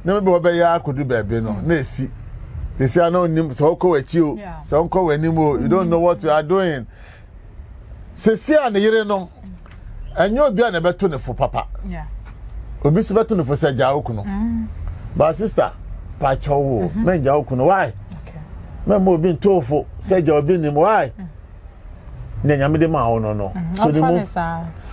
na mebɛ wɔbɛyɛ ara kodu baabi no na esi sisi a na onim sɛ ɔkɔ w'akyi o sɛ ɔnkɔ w'anim o you don't know what you are doing sisi a ne yere no ɛnyɛ obi a na ɛbɛto ne fo papa obi so bɛto ne fo sɛ gya okunu mm. ba sista pakyɛ wo mm-hmm. mɛngya okunu why mɛmma obi ntoo fo sɛ gya obi nim why mm. nea nyame de ma wo no no mm-hmm. so ne mu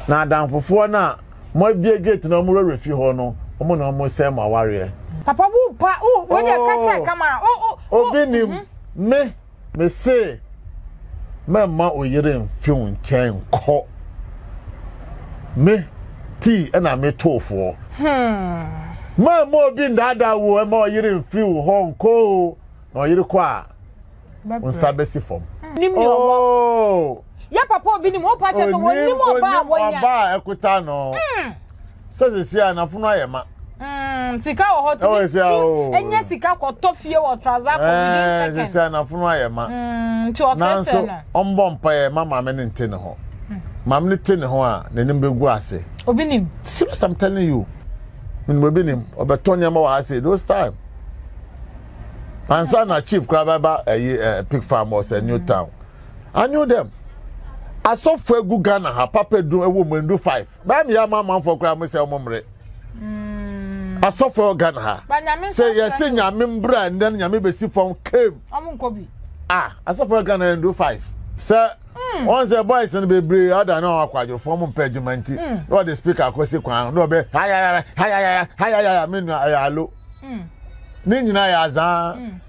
na adamfofoɔ no a mo abie gate na ɔmo wura fi hɔ no ɔmo na ɔmo sɛ mo awareɛ. Papa wo pa wo wo deɛ ka kyɛ kama o o. Obi nim mhm. me me se mɛmma oyere mfe wo nkyɛn nkɔ me tii ɛna me toofoɔ. Hmm. Mɛmma obi ndaadaa wo ɛma ɔyere mfe wo hɔ nkɔ o na ɔyere kɔ a. nsa bɛsi fam. nim ni ɔwɔ oh! yɛ papa obi nim wopa kyɛ sɛ wɔnim ɔba a wɔnya ɔba a ɛkuta no hmm. sɛ sisi a nafono ayɛ ma hmm, sika wɔ hɔ tumi tu oh. ɛnyɛ sika kɔtɔ fie wɔ traza kɔ within eh, second sisi a nafono ayɛ ma hmm, nti ɔtɛtɛ no ɔmbɔ mpaeɛ ma maame ne nte ne ho maame ne te ne ho a n'anim bɛgu ase obi nim serious i'm telling you menim obi nim ɔbɛtɔ nneɛma wɔ ha sei those time ansa na chief koraa bɛba ɛyi eh, eh, pig farm ɔsɛ eh, new town i knew them asɔfo egu ghana ha papa dum ɛwɔ mu ndu five bɛyɛ mi yɛ ama amanfoɔ koraa mo sɛ ɔmo mmerɛ mm. asɔfo ghana ha sɛ yɛsi nyame mbra ndɛ nyame besi fam kame ah asɔfo ghana ndu five sɛ. Hmm. wọn sɛ boys no bebree ada na ɔwɔ akwadworofo ɔmo mpɛ adwuma nti hmm. na ɔde speaker akɔsi kwan na ɔbɛ hayayaya hayayaya hayayaya mi nua ɛyɛ alo mm. ne nyinaa yɛ azaa mm.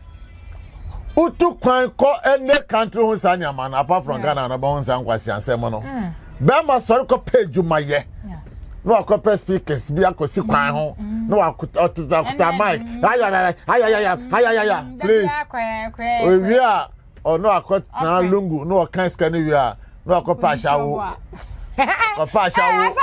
wotu kwan kɔ ɛnɛ country ho saa nneɛma no apart from ghana no bɛho nsa nkwaseasɛm no mm. bɛrima sɔre kɔpɛ adwumayɛ na wakɔpɛ speakers bi akɔsi kwan ho mm. na wakutakuta mic ayayaya ayayaya ayayaya mm, please owie a ɔno akɔtena lungu na ɔka sika no wie a na wakɔpɛ ahyɛwo ɔpɛ ahyɛwo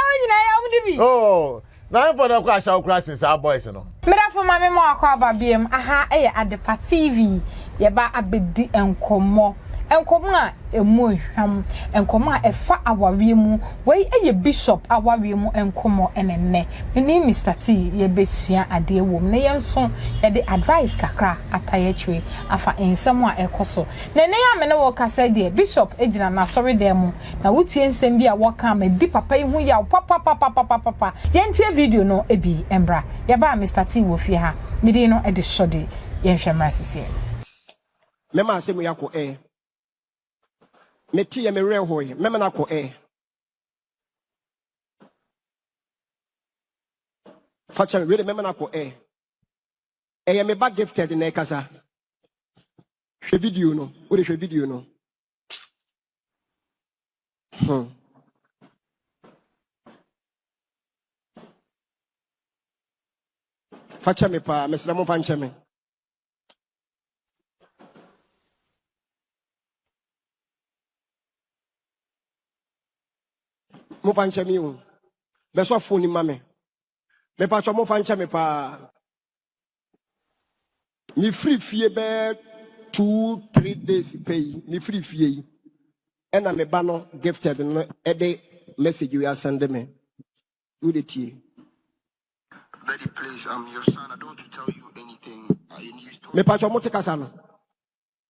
oh Na mpo na ɛkɔ ahyaw koraa sen saa boys no. Medafo ma me ma wakɔ aba biam aha yɛ adepa TV yɛba abɛdi nkɔmmɔ nkɔmmɔ a ɛmu hwam nkɔmmɔ a ɛfa awareɛ mu wei yɛ bishop awareɛ mu nkɔmmɔ ɛne nnɛ mene Mister T yɛbɛsua adeɛ wom na yɛn nso yɛde advice kakra atae akyire afa nsɛm a ɛkɔ so na ɛnɛ a mene wo kasa deɛ bishop gyina n'asɔre dan mu Na wotie nsɛm bi a wɔka ama adi papa yi ho yaw papapapapapapa. Yɛntie video no bi mmra. Yɛba a, Mister Tee wɔ fie ha. Me din no de Shordy. Yɛnhwɛ mmra sisiɛ. Mɛma asɛm yi akɔ ɛ. Meteeɛ, me werɛ hoeɛ. Mɛma no akɔ ɛ. Fa kyɛ me, wei de mɛma no akɔ ɛ. Ɛyɛ me ba Gifted na ɛkasa. Hwɛ video no. Wode hwɛ video no. Hmm. Fa kyɛ me paa, mesrɛ mo fa nkyɛ me. Mo fa nkyɛ me o. Bɛsɔ fon ni ma me. Mepakyɛ mo fa nkyɛ me paa. Mefiri fie bɛyɛ two three days pɛ yi, mefiri fie yi ɛna me ba no gifted no ɛde message yi asɛnde me. Wode tie. Daddy, please, I'm your son. I don't want to tell you anything. I, you stop. Mepakyɛ mo te kasa no.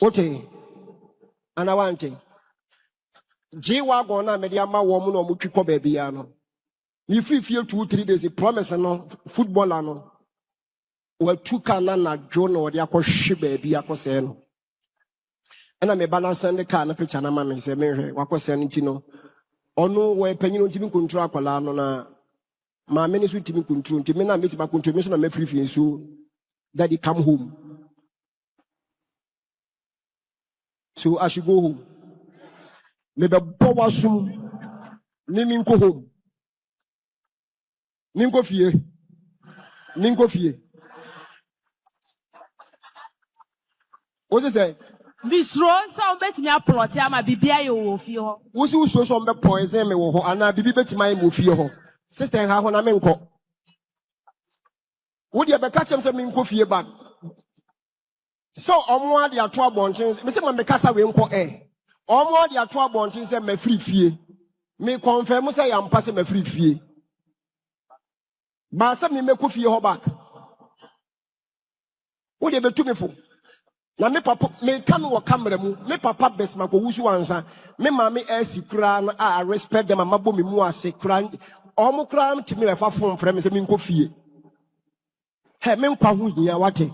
Wote? Ana wante? Gye wagon no a mede ama wɔn na wɔtwi kɔ baabiara no. Mefiri fie two three days promise no footballer no watu ka no anadwo na ɔde akɔhwe baabi akɔsɛe no. Ɛna meba no asɛn de kaa no picture no ama me sɛ menhwɛ wakɔsɛe no nti no ɔno wɔyɛ panyin nti me nkontrol akwadaa no na Maame no nso ntumi nkunturu nti me na metumi akunturu me nso na mɛfiri fie nso daddy come home so I should go home mebɛbɔ w'asom ne menkɔ home menkɔ fie menkɔ fie Wose sɛn? Misuro sɛ wɔn bɛtumi aplɔte ama biribi ayɛ wo wɔ fie hɔ. Wose wosuro sɛ wɔn bɛ poison me wɔ hɔ anaa biribi bɛtumi ayɛ me wɔ fie hɔ. Sister nha hɔ na menkɔ. Wo deɛ bɛka kyerɛ me sɛ menkɔ fie but sɛ wɔn ade ato abɔnten sɛ mese ma mekasa wei nkɔ ɛ. Wɔn ade ato abɔnten sɛ mafiri fie. Me confirm sɛ yɛ ampa sɛ mafiri fie. Baa sɛ memmɛkɔ fie hɔ back. wo de betu me fo na me papa menka no wɔ camera mu me papa best ma kɔwu so ansa me maame asi koraa no a i respect them ama bɔ me mu ase koraa ɔmo koraa ntumi ɛfa fon frɛ me sɛ menkɔ fie hɛ me nkwa ho hia wate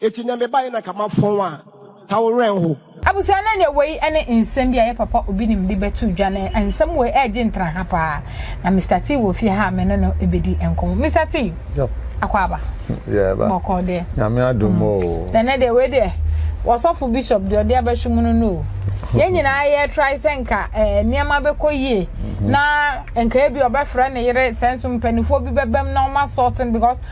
Eti nea me bae na nka ma fɔn a ka wo wrɛ nho. Abusua no ɛneɛ wei ɛne nsɛm bi a yɛ papa obi nim de bɛto dwa na nsɛm wei ɛɛgye ntra ha paa na Mister Tee wɔ fie ha a me ne no ɛbɛdi nkɔmɔ Mister Tee Akwaaba bɔkɔɔ deɛ Nyame adom oo na ɛnɛ deɛ wei deɛ wɔsɔfo Bishop deɛ ɔde abɛhwe mu no no o yɛn nyinaa yɛ try sɛ nka ɛɛ nneɛma bɛkɔ yie na nka ebi ɔbɛfrɛ ne yere sɛ nso mpanifoɔ bi bɛbɛm na ɔma sɔɔten because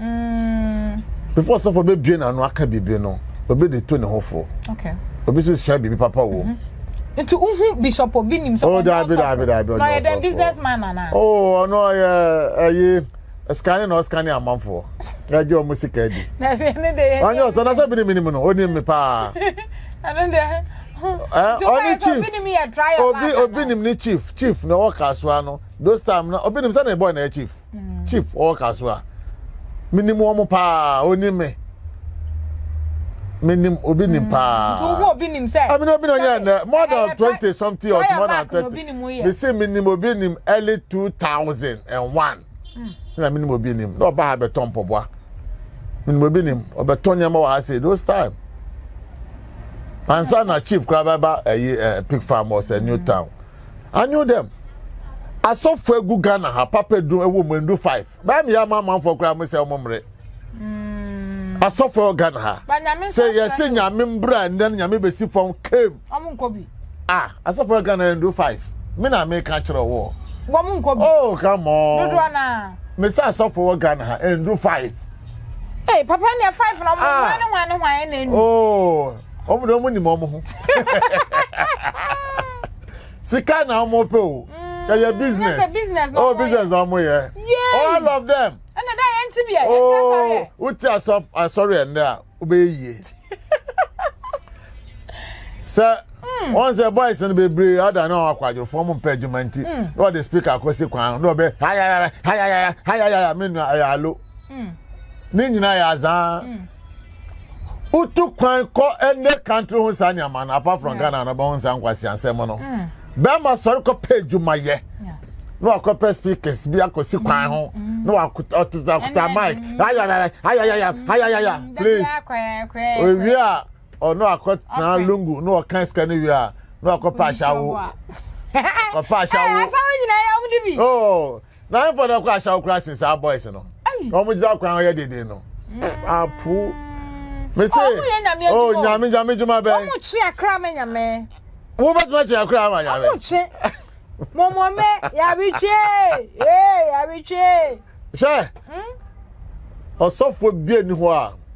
Mm. Before sɛ fo bɛbue n'ano aka biribi no, obi de to ne ho fo. Okay. Obi nso sua biribi papa wɔ mu. Mm-hmm. Nti wohu bishop obi nim sɛ oh, ɔnyɛ ɔsɔfo. Na ɔyɛ dɛn businessman nana? Oh, ɔno ɔyɛ ɛyi ɛsikane na ɔsikane amanfoɔ. Ɛgye wɔn sika di. Na ɛbi ne de yɛ. Ɔnyɛ ɔsɔ na sɛ bi ne mi ni mu no, ɔni mi paa. Ɛno deɛ. Eh, ɔne chief obi obi nim ne chief chief na ɔwɔ kasoa no those time na obi nim sɛ na ɛbɔ na yɛ chief. mm. chief ɔwɔ ka so a menim wɔn paa onim me menim obi nim mm. paa nti obi nim sɛ ɛmi obi na ɔnyɛ ɛnɛ more than twenty something or more than thirty me se menim obi nim early two thousand and one ɛna menim obi nim na ɔba ha bɛtɔ mpɔboa menim obi nim ɔbɛtɔ nneɛma wɔ ha se those time ansa na chief koraa bɛba ɛyi ɛ pig farm ɔsɛ new town. Anyo dɛm. Asɔfo egu Ghana ha papa du ɛwɔ mu ndu five. Bɛyɛ mi yɛ ama amanfoɔ koraa mo sɛ ɔmo mmere. Mm. Asɔfo ɛwɔ Ghana ha. Sɛ yɛsi nyame mbra ɛnɛ nyame besi fam kem. Ɔmo nkɔ bi. Ah asɔfo ɛwɔ Ghana ndu five. Mi na mi ka kyerɛ wɔ. Wɔmo nkɔ bi. Oh come on. Dodo ana. Mi sɛ asɔfo ɛwɔ Ghana ha ndu five. Hey papa ni five na ɔmo wɔn ne wɔn ne wɔn ɛna enu. Oh. wɔn de wɔn nim wɔn ho sika na wɔn pɛ o ɛyɛ mm, business oh business na wɔn yɛ all of them ɛna dɛ yɛn ti bi yɛ yɛn ti asɔre yɛ oh, wote asɔre yɛ ndɛ a wobɛyɛ yie sɛ hmm. wọn sɛ boys no bebree ada na ɔwɔ akwadworofo ɔmo mpɛ adwuma nti hmm. na ɔde speaker akɔsi kwan na ɔbɛ hayayaya hayayaya hayayaya mi nua ɛyɛ alo. mm. ne nyinaa yɛ azaa mm. wotu kwan kɔ ɛnɛ country ho saa nneɛma no apart from ghana no bɛho saa nkwaseasɛm no mm. bɛrima sɔre kɔpɛ adwumayɛ na wakɔpɛ speakers bi akɔsi kwan ho na wakutakuta mic ayayaya ayayaya ayayaya please owie a ɔno akɔtena lungu na ɔka sika no wie a na wakɔpɛ ahyɛwo kɔpɛ ahyɛwo oh Na mpo na ɛkɔ ahyaw koraa sen saa boys no na wɔn gyina kwan ɔyɛ deden no apu me se o nyame nyame dwuma bɛn wɔn kye akra ma nyame wo bɛ tuma kye akra ma nyame wɔn kye mɔmɔ mɛ yare kye ee yare kye hwɛ ɔsɔfo bie ni hɔ a.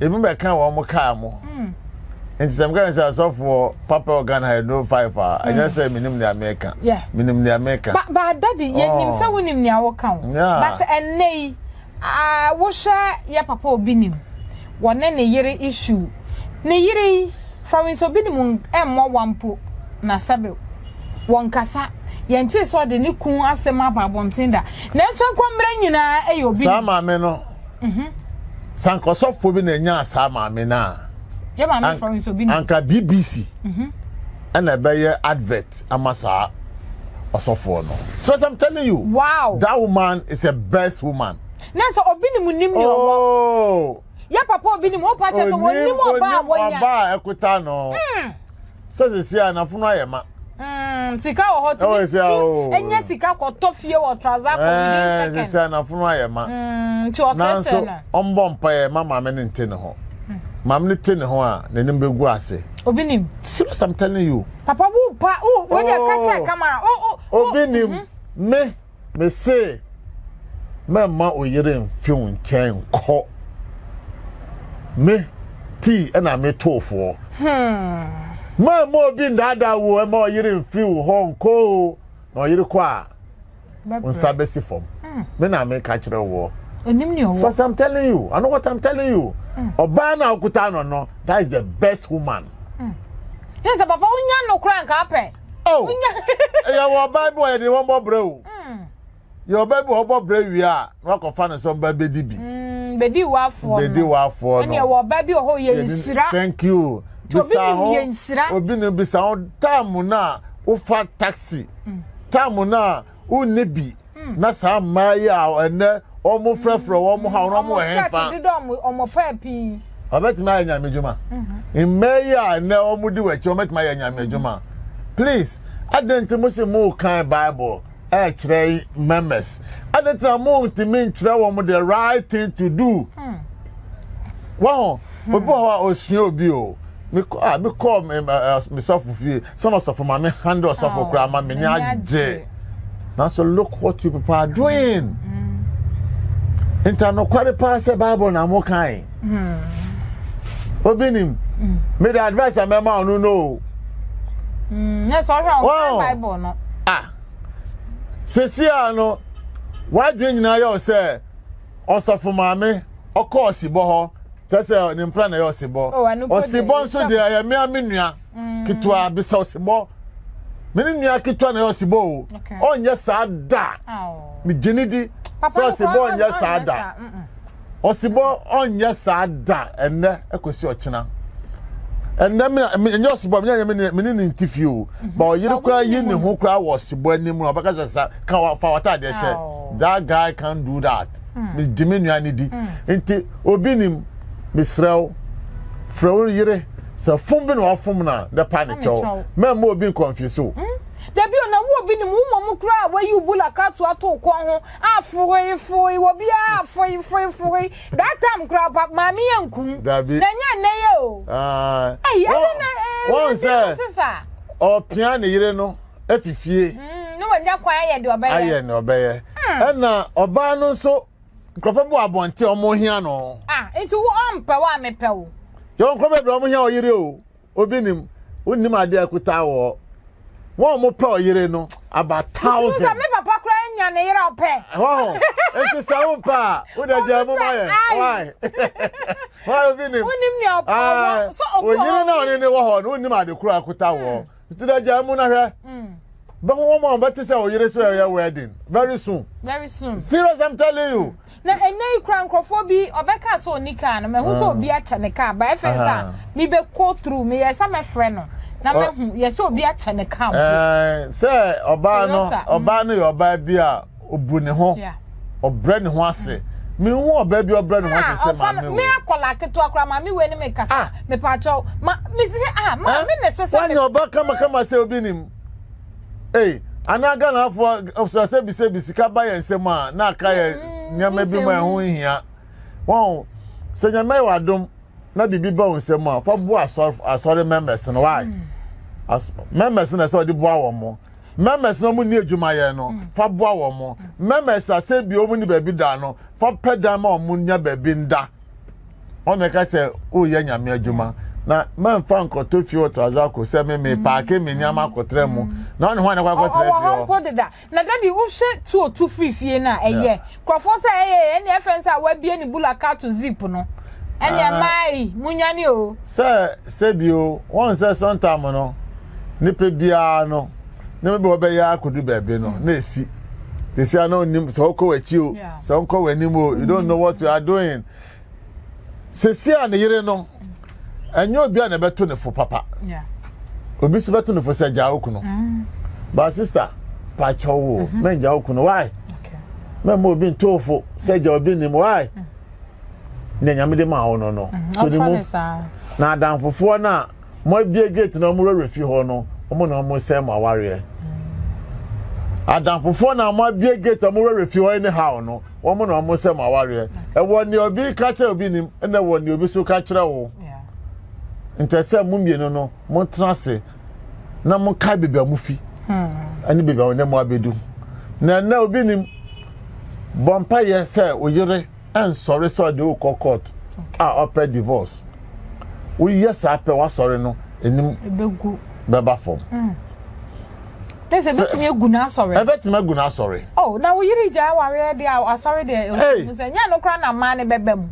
ebi bɛka wɔn mo kaa mo nti sɛ meka sɛ asɔfoɔ papa ɔgan ha no five a ɛnyɛ sɛ menim nea meka menim nea meka ba dadi yɛnim sɛ wonim nea woka wo but ɛnnɛ yi wohwɛ yɛ papa obi nim wɔne ne yere issue ne yere yi fawins obi nim mmɔ wampo na sɛbe wɔnkasa yɛnte sɛ ɔde ne kun asɛm aba abɔnten da nanso nkɔmmerɛ nyinaa ɛyɛ obi saa maame no sɛ anka ɔsɔfoɔ bi na ɛnyaa saa maame no a anka bbc ɛna ɛbɛyɛ advert ama saa ɔsɔfoɔ no so as i'm telling you wow. that woman is a best woman na sɛ obi ne mu nim ne ɔwɔ oh. yɛ papa obi ne mu wopa kyɛ sɛ wɔnim ɔba a wɔnya ɔba a ɛkuta no hmm. Sɛ sisi a n'afono ayɛ ma. Mm, sika wɔ hɔ tumi tu ɛnyɛ sika kɔtɔ fie wɔ traza kɔ within second. Sisi a n'afono ayɛ ma. Mm, nti ɔtɛtɛ no. Ɔmbɔ mpaeɛ ma maame no nte ne ho. Maame no te ne ho a n'anim bɛgu ase. Obi nim. Serious I'm telling you. Papa wo pa wo wo deɛ kakyɛ kama. Obi nim me. Mese, mɛmma wo yere mfe wo nkyɛn nkɔ. Me, tii ɛna me too foɔ. Hmm. Ma mma obi ndaadaa wo ɛma ɔyere mfi wo hɔ nkɔ o. Na ɔyere kɔ a, nsa bɛsi fam. Hmm. Me na meka kyerɛ woɔ. Onim ni ɔwɔ. So as I'm telling you, I know what I'm telling you. Hmm. Ɔbaa na okuta no no, that is the best woman. Hmm. Yẹn sẹ papa wonya no kura nka apẹ. Oh, ɛyɛ wɔ ɔbaa bi wɔ yɛde wɔn bɔ brɛ o. Hmm. Yɛ ɔbaa bi wɔ ɔbɔ brɛ wie a na wakɔfa ne sɔn ba bedi bi. Hmm, bedi wafoɔ no. Bedi wafoɔ no. Ɛni ɛwɔ ɔbaa bi wɔ hɔ yɛ nsira. Thank you. Bisa ho obi ni bisa ho taamu na wofa taxi hmm. taamu na. wonni bi hmm. na saa mmaa yi a ɛnɛ wɔn frɛfrɛ wɔn hmm. ha wɔn wɔ hɛn fa ɔbɛtumi ayɛ nyame adwuma mhm. mmaa yi a ɛnɛ wɔn di wɔ akyi wɔbɛtumi ayɛ nyame adwuma please adan nti mo si mo kan bible ɛkyerɛ members adan nti na mo ntumi nkyerɛ wɔn the right thing to do hmm. wɔn obi wɔ hɔ a osua obi o. me call me uh, uh, me suffer fie Sɛ na ɔsɔfo ma me handle ɔsɔfo koraa ma me ni agye. Nanso look what you people are doing. Mm. Nta nokware paa sɛ Bible na mo kan. Hmm. Obi nim. Hmm. Me the advice a mɛma ɔno no. Mm. Yes, ɔhwɛ ɔkan Bible no. Ah. Sisi a no, wadwe nyinaa yɛ sɛ ɔsɔfo maame ɔkɔ ɔsibɔ hɔ. Tɛsɛ ne mpra na yɛ ɔsibɔ. Ɔsibɔ nso deɛ ɛyɛ mmea me nua. mm. ketewa bisa ɔsebɔ me ne nua ketewa na ɛyɛ ɔsebɔ o ɔnyɛ saa da megye ne di sɛ ɔsebɔ ɔnyɛ saa da ɔsebɔ ɔnyɛ saa da ɛnɛ ɛkɔsi ɔkyena ɛnɛ ɛnyɛ ɔsebɔ menyɛ me ne ne nti fie o ba ɔyere koraa yi ne ho koraa wɔ ɔsebɔ anim na ɔbɛka sɛ sa ka fa wɔtaadeɛ hyɛ that guy can do that megye me nua ne di nti obi nim mesrɛ wo frɛ wo yere sɛ fom bi na wafom no a na pa ne kyɛw mɛmma obi nkɔnfyese o hmm? dabi o na wo obi nim wo mmom kura a wayi bula kato ato kɔn ho afoe foe wɔ bi a foe foe foe that time kura pa maame yɛ nkum dabi na nya nnɛ yɛ o ɛyi ɛdi na ɛɛ wɔn sɛ ɔpia ne yere no efifie hmm, ne wɔn nya kwan ayɛ deɛ ɔbɛyɛ ayɛ ne ɔbɛyɛ hmm. ɛna ɔbaa no nso. nkurɔfo bu abɔnten a wɔhia no. Ah, nti wo ɔmpɛ wo a mepɛ wo. Yɛwɔ nkurɔfo bebree a wɔhia ɔyere o. Obi nim, wonim ade a ɛkuta wɔ hɔ. Wɔn a wɔpɛ ɔyere no, about thousand. Nti sɛ me papa koraa nya ne yere ɔpɛ. Ɛhɔ nti sɛ wo mpɛ a, wo dɛ gyaa mu ma yɛ. Why? Why obi nim? Wonim nea ɔpɛ wɔ. So obi wɔ hɔ. Oyere na ɔne ne wɔ hɔ no, wonim ade koro a ɛkuta wɔ hɔ. nti dɛ gyaa mu na hwɛ bɛho wɔn a wɔbɛte sɛ ɔyere sɛ ɔyɛ wedding very soon very soon serious i'm telling you. na ɛnɛ yi kura nkurɔfoɔ bi ɔbɛka sɛ ɔni kaa no mɛho sɛ obi akyɛ ne kaa ba ɛfɛ sɛ a mebɛkɔ through meyɛ sɛ mɛfrɛ no na mɛho yɛ sɛ obi akyɛ ne kaa mpo sɛ ɔbaa no ɔbaa no yɛ ɔbaa bi a ɔbu ne ho ɔbrɛ ne ho ase mehu ɔbaa bi ɔbrɛ ne ho ase sɛ maame wei. me akɔla ketewa kora maame wei ne me kasa ah. mepaakyɛw ma me sɛ ah maame na ɛsɛ sɛ. wanyɛ ɔba kamakama sɛ obi nim ee anaa ghanafoɔ sɛ sɛ bi sɛ bi sika ba yɛn nsam a na aka yɛ mm, nneɛma bi ma ɛho nhia wɔn sɛ nyame yɛ wadom na biribi ba wɔn nsam a fa bu asɔre asɔre members no wae mm. members na ɛsɛ ɔde boa wɔn mo. Members na wɔn nni adwumayɛ no, mm. fa boa wɔn. Mm. Members a sɛ bi wɔn nni baabi da no, fa pɛ dan ma wɔn nya baabi nda. Wɔn na ɛka sɛ woyɛ nyame adwuma. Na mɛmfa nkɔtɔ fie wɔ Trazako sɛ me me mm. paake me nneɛma akɔtara mu. Na wɔn ne ho anakɔ akɔtara fie hɔ. Ɔwɔ hɔ mpo deda. Na dadi wohwɛ tuo tu firi fie no a ɛyɛ. Nkurɔfoɔ sɛ ɛyɛɛ ɛne ɛfɛn sɛ awabie ne bula kato zip no ɛne ɛmaayi munwane o. Sɛ sɛbio wɔn sɛ sɔntam no nipa biara no ne bɛbɛ wɔbɛyɛ akodu baabi no na ɛsi tesia na onim sɛ ɔkɔ w'akyi o sɛ ɔnkɔ w'anim o you don't know what you are doing. sɛsi a ne yere no ɛnyɛ obi a na ɛbɛto ne fo papa obi so bɛto ne fo sɛ gyaa okunu mm. ba sista pakyɛ wo mhm. mɛngya okunu wae mɛma obi ntoofo sɛ gya obi nim wae mm. ne nyame de ma wo no no mhm. so ne mu na adamfofoɔ no a Mo abue gate na ɔmo wura fie hɔ no ɔmo na ɔmo sɛe mo awareɛ. Adamfofoɔ na ɔmo abue gate ɔmo wura fie hɔ any how no ɔmo na ɔmo sɛe mo awareɛ. Ɛwɔ nea obi ka kyerɛ obi nim ɛna ɛwɔ nea obi so ka kyerɛ wo. Nkyɛ sɛ mo mmienu no mo tena ase na mo kae beebi a mo fi ɛne beebi a ɔne mo abedu. Na ɛnɛ obi nim bɔ mpaeɛ sɛ oyere. ɛnsɔre sɛ ɔde wokɔ court a ɔpɛ divorce woyɛ saa pɛ wasɔre no anim bɛba fam mm. te sɛ ɛbɛtumi agu no asɔre ɛbɛtumi agu no asɔre oh na wo yere gya awareɛ deɛ asɔre deɛ ɛhu sɛ nyɛ no koraa na mmaa ne bɛba mu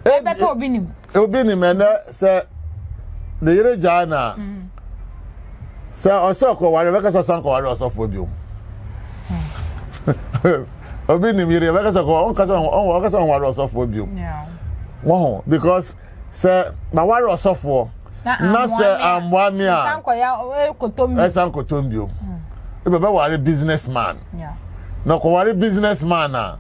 ɛbɛtɔ obi nim Obi nim ɛnɛ sɛ ne yere gyae no a, sɛ ɔsɛ ɔkɔware bɛka sɛ san kɔware ɔsɔfoɔ biom. Obi nim yere bɛka sɛ ɔnka sɛ ɔnware ɔsɔfoɔ biom. Wɔho because sɛ maware ɔsɔfoɔ na sɛ ammoa me a ɛsan kɔtɔm biom. Bɛbɛware business man. Na ɔkɔware business man a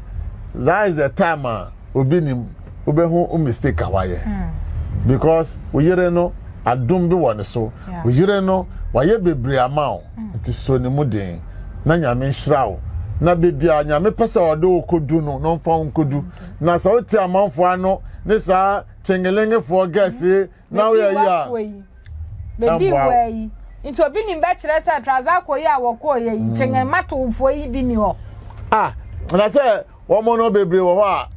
that is the time a obi nim wobɛhu wo mistake a wayɛ because wo yere no adom bi wɔ ne so wo yere no wayɛ bebree ama wo nti so ne mu den na nyame nhyira wo na bebia nyame pɛ sɛ ɔde wo kɔdu no na ɔmfa wo nkɔdu na sɛ wote amanfoɔ ano ne saa kyengelengefoɔ gɛse na woyɛ yi a bɛdi wɔ yi nti obi nim bɛkyerɛ sɛ trazako yi a wɔkɔɔ yɛ yi mm. kyengen matofoɔ yi bi ni hɔ ah na sɛ Wɔn no bebree wɔ hɔ a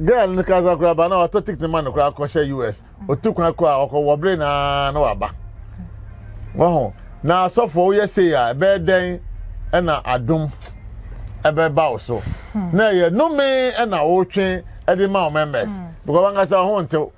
girl no kasa koraa ba na watɔ ticket ma no koraa kɔhyɛ US. Otu kwan kɔ a ɔkɔ wɔ bere na na waba. Wɔho na asɔfo woyɛ sei a ɛbɛyɛ dɛn ɛna adom ɛbɛba wo so. Hmm. Na ɛyɛ nome ɛna wotwe ɛde ma wo members. Hmm. Because wankasa ho ntew.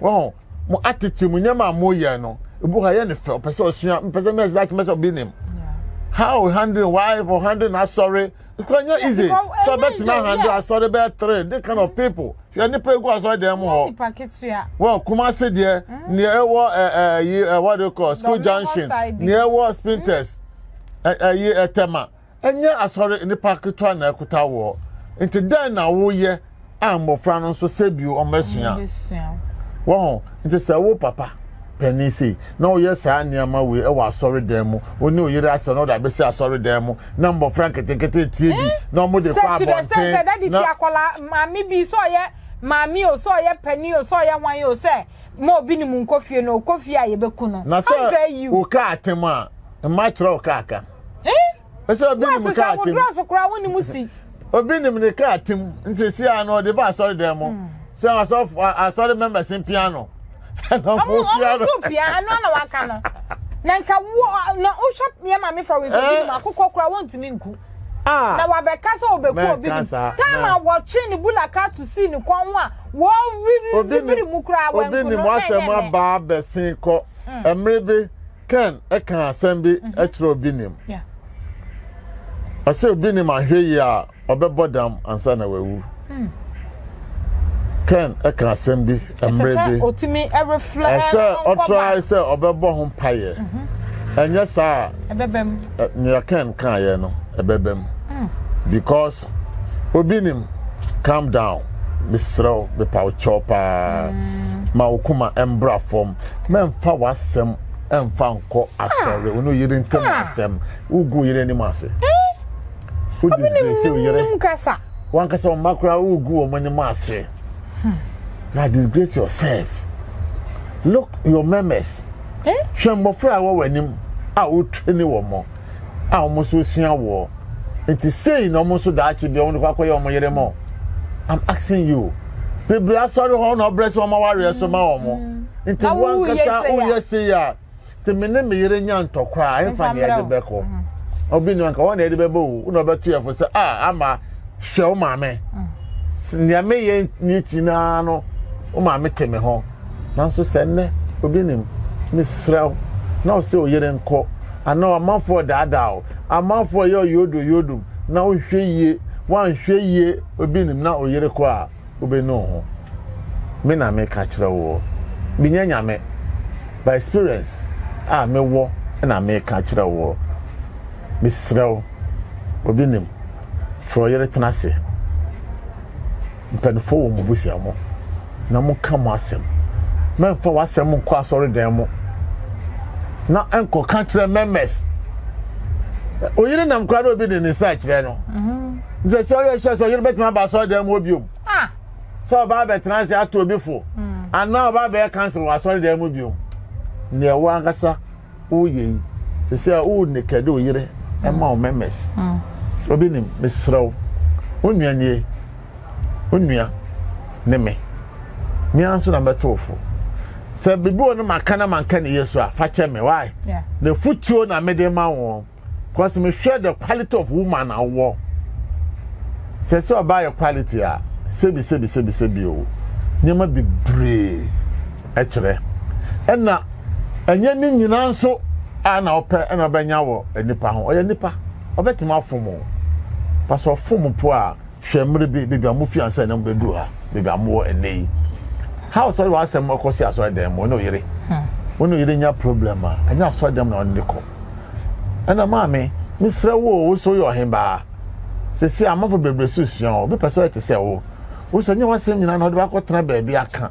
wɔn mo atete mu nneɛma a moyɛ no ebi hɔ yɛ ne fɛ ɔpɛ sɛ ɔsua mpɛ sɛ mɛsɛ akyɛ mɛsɛ ɔbi nim how handling wife or handling asɔre kura nyɛ easy sɛ ɔbɛtumi ahandle asɔre bɛyɛ three de kind of people hwɛ nipa egu asɔre dɛm mu hɔ wɔ kumase deɛ mm. nea ɛwɔ ɛɛ ɛyi ɛwɔ de kɔ school junction nea ɛwɔ spinters ɛyi ɛtɛma. Ɛnyɛ asɔre nnipa ketewa na ɛkota woɔ, nti dɛn na woyɛ a mmɔfra no nso sɛ bio wɔbɛsua? Wahu? Nti sɛ wo papa panin sei na woyɛ saa nneɛma wei wɔ asɔredan mu, wo ne oyere asɛm na wode abɛsi asɔredan mu na mmɔfra nketenkete tie bi eh? na wɔde kɔ abɔnten na. Sɛ akwadaa maame bi sɛ ɔyɛ maame o sɛ ɔyɛ panin o sɛ ɔyɛ hwan o sɛ. ma obi ne mu nkɔ fie no ɔkɔ fie a yɛbɛku no na sɛ woka atem a mma kyerɛ wo kaa ka ɛsɛ obi ne mu kaa atem so koraa wo ne mu si obi nim ne kaa atem nti si a no ɔde ba asɔre dɛn mu hmm. sɛ asɔre members mpia no ɛna mo pia no ɔmo pia ano na waka no na nka wo na wohwɛ yɛ maame fɔwɛsɛ bi mu akokɔ koraa wontumi nku Ah, na wabɛka sɛ ɔbɛku obi nim tam a wɔtwe ne bula kato sii ne kɔn ho a wɔrerisi biri mu koraa wanku no wasɛm aba abɛsen kɔ mmere mm. bi ken ɛka asɛm bi mhm. ɛkyerɛ obi nim ɔsɛ obi nim ahwɛ yie a ɔbɛbɔ dam ansa na wawu Ken ka asɛm bi mmerɛ bi. Ɛsɛ sɛ ɔtumi reflɛ ɛsɛ ɔtrae sɛ ɔbɛbɔ ho mpaeɛ. Ɛnyɛ saa a nea Ken kaeɛ no ɛbɛba mu. Because obi nim calm down mesrɛ wo mepa wo kyɛw paa ma wo koma ɛmbra fam mɛmfa w'asɛm ɛmfa nkɔ asɔre wo ne yere ntam asɛm wogu yere anim ase. Wo disgrace wo yere. Wankasa wo mma koraa wo gu wɔn anim ase. Hmm. Na disgrace yourself. Look your memes. Eh? Hwɛ mmɔfra a wɔwɔ anim a wotwe ne wɔn mo a wɔn nso sua woɔ. Nti sei na wɔn nso daakye bi wɔn de kɔ akɔyɛ wɔn yere mo. I'm asking you. Bebree asɔre hɔ na ɔbrɛ sɛ wɔn awareɛ so ma wɔn. Hmm. Nti wankasa woyɛ sei a. te me ne me yere nya ntɔkwa a ɛmfa nea ɛde bɛkɔ obi nua nka wɔn na ɛde bɛbɔ o na ɔbɛto yɛfo sɛ a ama hwɛ wo maame nea meyɛ ne akyi naa no wo maame te me ho nanso sɛ nnɛ obi nim mesrɛ wo na wo sɛ ɔyere nkɔ anaa ɔmanfoɔ daadaa o amanfoɔ yɛ ɔyɛ odo yodom na wohwɛ yie woanhwɛ yie obi nim na ɔyere kɔ a wobenu ho me na me ka kyerɛ woɔ me nyɛ nyame but experience a me wɔ na me ka kyerɛ woɔ me serɛ wo obi nim frɛ ɔyere tena se mpanifoɔ wɔ mo busia mo na mo ka mo asɛm mɛmfa w'asɛm nkɔ asɔre dan mo na ɛnkɔ ka kyerɛ mɛmɛs oyere nam kora na obi de ne nsa kyerɛ no mm -hmm. nti sɛ ɔyɛ hyɛ sɛ ɔyere bɛtumi aba asɔredan mu biom ah. sɛ ɔbaa bɛtena ase ato obi fo hmm. anaa ɔbaa bɛyɛ kansel wɔ asɔredan mu biom nea ɛwɔ ankasa woyɛ yi sɛ sɛ wo nekɛde oyere ɛma wo mɛmɛs hmm. obi nim mesrɛ wo wo nua nie wo nua ne me mea nso na mɛto fo sɛ biribi wɔ no maka na manka ne yɛ so a fa kyɛ me wae na futuo na mede ma wɔn Cause me hwɛ the quality of woman a wowɔ. Sɛ sɛ ɔbaa yɛ quality a, sebi sebi sebi sebi o. Nneɛma bebree ɛkyerɛ. Ɛna ɛnyɛ ne nyinaa nso a na ɔpɛ ɛna ɔbɛnya wɔ nipa ho. Ɔyɛ nipa, ɔbɛtumi afom o. Pasɛ ɔfom po a, Hwɛ mmere bi, baabi a mufi ansa na mubeduru ha, baabi a mowɔ nnɛ yi. How sɔre wɔ asɛm ɔkɔ si asɔredan mu, ɔne ɔyere. Ɔne hmm. ɔyere nya problem a, ɛnyɛ asɔredan mu na ɔne ne kɔ. Ɛna maame, mesrɛ wo o, wo so yɛ ɔhembaa. Sisi amanfo bebree so sua o, obi pɛ sɛ ɔyɛ te sɛ wo. Wo so nyɛ w'asɛm nyinaa na ɔde wakɔ tena baabi aka.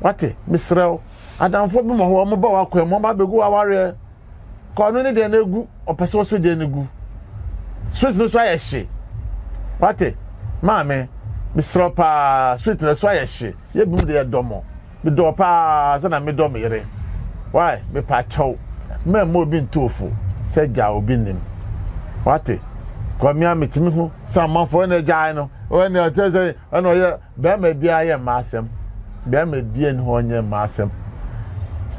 Wate, mesrɛ wo, adamfo bi ma hɔ, wɔn ba wakɔ mu, wɔn ba begu awareɛ. kɔɔ no ne deɛ no agu ɔpɛ sɛ ɔsɔ deɛ no gu sweet no so ayɛ hye wate maame mesrɛ paa sweet no so ayɛ hye yɛ binom deɛ dɔ mo medɔ paa sɛ na medɔ me yere wae mepa kyɛw mɛmma obi ntoofo sɛ gya obi nim wate kɔmea metumi ho sɛ amanfoɔ na agyae no ɔne ɔkyɛ sɛ ɛna ɔyɛ Bɛɛma biaa yɛ mma asɛm. Bɛɛma biaa nni hɔ nyɛ mma asɛm.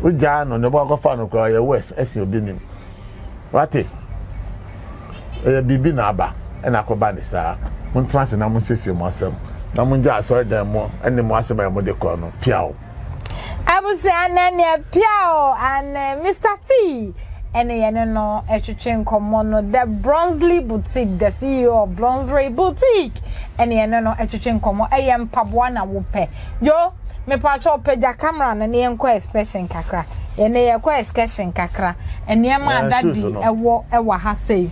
Wogyaa no ne bɔakɔfa no koraa ɔyɛ worse ɛsen obi nim. Wate? Ɛyɛ biribi na aba ɛna akɔba ne saa. Montena ase na monsiesie mo asɛm na mongyaa asɔredan mu ɛne mo asɛm a ɛmode kɔ no piaw. Abusua nɛ neɛ pia o and Mister T ɛne yɛne no ɛtwetwe nkɔmɔ no The Bronsley Boutique the CEO of Bronsley Boutique ɛne yɛne no ɛtwetwe nkɔmɔ ɛyɛ mpaboa na wopɛ yo mepatwɔ pagya camera no ne yɛnkɔ excursion kakra yɛne yɛkɔ excursion kakra nneɛma a dadi ɛwɔ ɛwɔ ha sei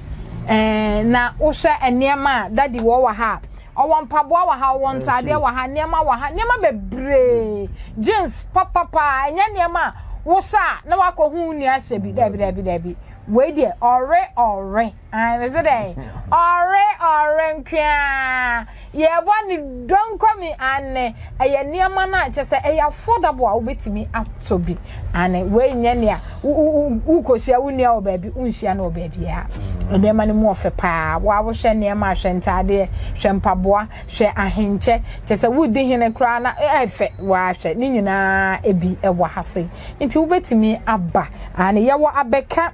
ɛɛ na wohwɛ nneɛma a dadi wɔ wɔ ha a Ɔwɔ mpaboa wɔ ha, ɔwɔ ntaadeɛ wɔ ha, nneɛma wɔ ha, nneɛma bebree. Jeans papa paa, ɛnyɛ nneɛma a wohyɛ a na wakɔ hu wo nua ahyɛ bi. Daabi daabi daabi. Wei deɛ ɔre ɔre. Ae mese dɛn? Ɔre ɔre nkoaa. Yɛbɔ ne donko mi anne. Ɛyɛ nneɛma no a kyerɛ sɛ ɛyɛ affordable a wobɛtumi atɔ bi. Aane, wei nyɛ nea wokɔhyia wo nua wɔ baabi, wonhyia no wɔ baabiara. Mm. Nneɛma no mu ɔfɛ paa. Wo a wohwɛ nneɛma a, hwɛ ntaadeɛ, hwɛ mpaboa, hwɛ ahenkyɛ. Kyerɛ sɛ wodi hene koraa na ɛfɛ. Woahwɛ, ne nyinaa ebi wɔ ha sei. Nti wobɛtumi aba. Aane yɛwɔ abɛka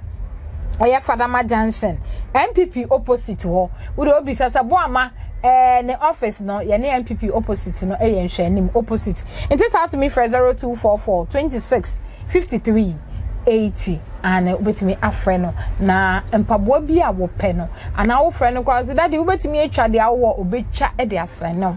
ɛyɛ fadama junction NPP opposite hɔ wo deɛ obisa sɛ boama ɛɛ ne office no yɛne NPP opposite no ɛyɛ nhwɛanim opposite nti saa tumi frɛ zero two four four twenty six fifty three eighty aane wobɛtumi afrɛ no na mpaboa bi a wɔpɛ no anaa wofrɛ no koraa sɛ dade wobɛtumi atwa deɛ awowɔ obɛtwa de asɛn no.